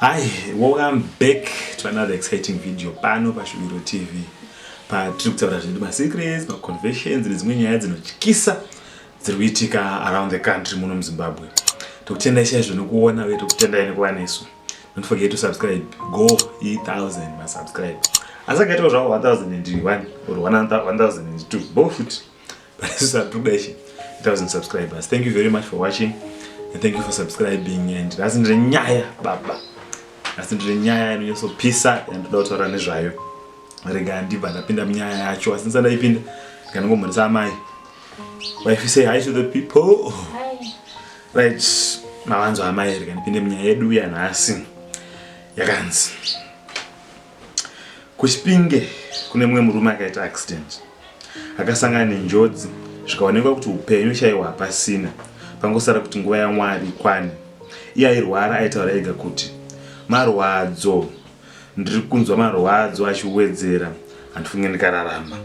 Hi, welcome back to another exciting video pano paShuviro TV patiri kutaura zvedu masecrets, maconfessions nedzimwe nyaya dzinotyisa dziri kuitika around the country muno muZimbabwe. Tokutendai chaizvo nekuona uye tokutendai nekuva nesu. Don't forget to subscribe. Go e1000 masubscribe. Asi akaitawo zvavo 1001 or 1002 both futi. Satrubeshe, 1000 subscribers. Thank you very much for watching and thank you for subscribing and that's ndre nyaya baba. That's ndre nyaya inonyosopisa and ndoda kutaura nezvayo. Rega ndibva ndapinda munyaya yacho asi ndisada ipinda nganongomhoresa amai. Wife say hi to the people. Hi. Right, mawanzo amai rega ndipinde munyaya yedu yanhasi. Yakanzi. KuChipinge kune mumwe murume akaita accident akasangana nenjodzi zvikaonekwa kuti upenyu chaiwo hapasina pangosara kuti nguva yaMwari ikwane. Iye airwara aitaura ega kuti marwadzo ndiri kunzwa marwadzo achiwedzera handifunge ndikararama.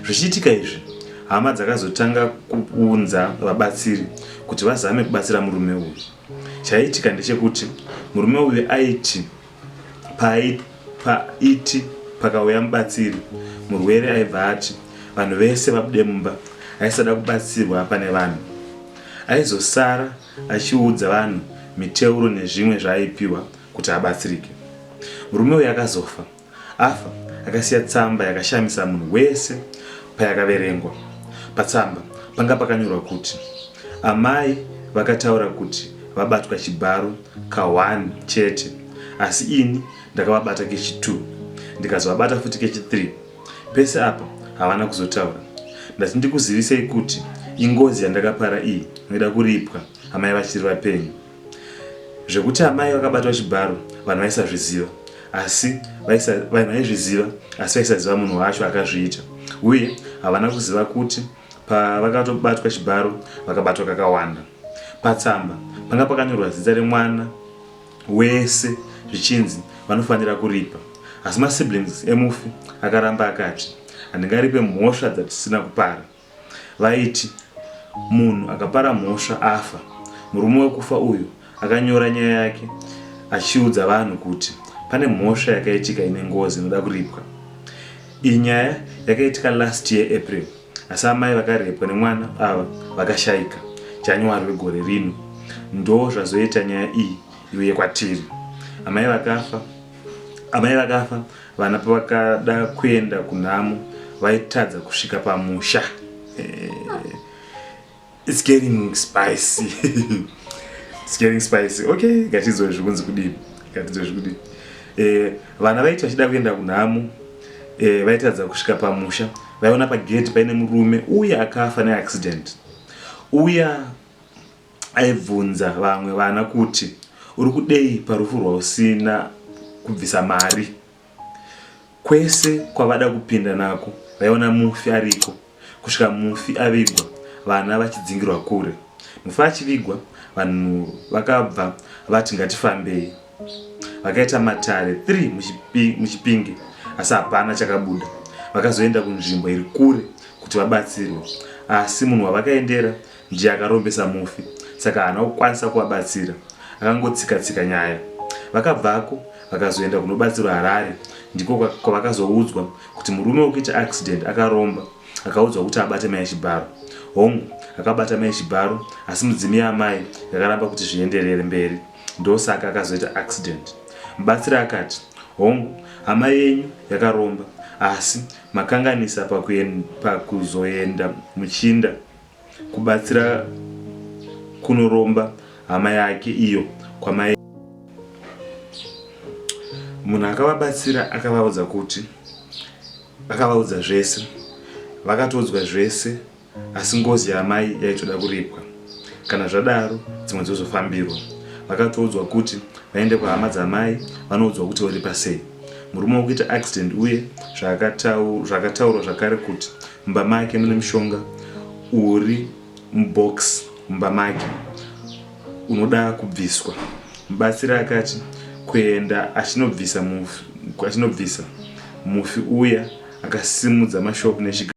Zvichiitika izvi hama dzakazotanga kuunza vabatsiri kuti vazame kubatsira murume uyu. Chaiitika ndechekuti murume uyu aiti Paiti, paiti pakauya mubatsiri, murwere aibva ati vanhu vese vabude mumba. Aisada kubatsirwa pane vanhu. Aizosara achiudza vanhu miteuro nezvimwe zvaaipiwa kuti abatsirike. Murume uyu akazofa. Afa akasiya tsamba yakashamisa munhu wese payakaverengwa. Patsamba panga pakanyorwa kuti amai vakataura kuti vabatwa chibharo Ka one chete asi ini ndakavabata kechi two ndikazovabata futi kechi three pese apa havana kuzotaura ndati ndikuzivisei kuti ingozi yandakapara iyi inoda kuripwa amai vachiri vapenyu zvekuti amai vakabatwa chibharo vanhu vaisazviziva asi vanhu vaizviziva asi vaisaziva munhu wacho akazviita uye havana kuziva kuti Pavakatobatwa chibharo vakabatwa kakawanda. Patsamba panga pakanyorwa zita remwana wese zvichinzi vanofanira kuripa asi masiblings emufi akaramba akati handingaripe mhosva dzatisina kupara. Vaiti munhu akapara mhosva afa. Murume wekufa uyu Akanyora nyaya yake achiudza vanhu kuti pane mhosva yakaitika ine ngozi inoda kuripwa. Iyi nyaya yakaitika last year April asi amai vakarepwa nemwana ava vakashaika January wegore rino ndoo zvazoita nyaya iyi iuye kwatiri. Amai vakafa amai vakafa vana pavakada kuenda kunhamo vaitadza kusvika pamusha. Eh, It's getting spicy. It's getting spicy. Okay, ngatidzwe zvikunzi kudii. Ngatidzwe zvikudii. Eh, vana vaiti vachida kuenda kunhamo. Eh, vaitadza kusvika pamusha. Vaiona pagate paine murume uye akafa neaccident. Uya aibvunza vamwe vana kuti uri kudei parufu rwausina kubvisa mari. Kwese kwavada kupinda nako vaiona mufi ariko kusvika mufi avigwa vana vachidzingirwa kure. Mufi achivigwa vanhu vakabva vati ngatifambei. Vakaita matare three muChipinge asi hapana chakabuda. Vakazoenda kunzvimbo iri kure kuti vabatsirwe asi munhu wavakaendera Ndiye akarombesa mufi saka haana kukwanisa kuvabatsira akangotsika tsika nyaya. Vakabvako vakazoenda kunobatsirwa Harare ndiko kwavakazoudzwa kuti murume wekuita accident akaromba akaudzwa kuti abate mai Chibharo. Hongu akabata mai Chibharo asi mudzimu yaamai yakaramba kuti zvienderere mberi ndosaka akazoita accident. Mubatsiri akati hongu hama yenyu yakaromba asi makanganisa pakuzoenda muchinda. kubatsira kunoromba hama yake iyo kwamai munhu akavabatsira akavaudza kuti akavaudza zvese vakatoudzwa zvese asi ngozi yamai yaitoda kuripwa kana zvadaro dzimwe dzozofambirwa vakatoudzwa kuti vaende kuhama dzamai vanoudzwa kuti woripa sei murume wokuita accident uye zvakataurwa zvakare kuti Mumba make mune mushonga uri mubox mumba make unoda kubviswa. Mubatsiri akati kuenda achinobvisa mufi achinobvisa mufi uya akasimudza mashoko nechiga.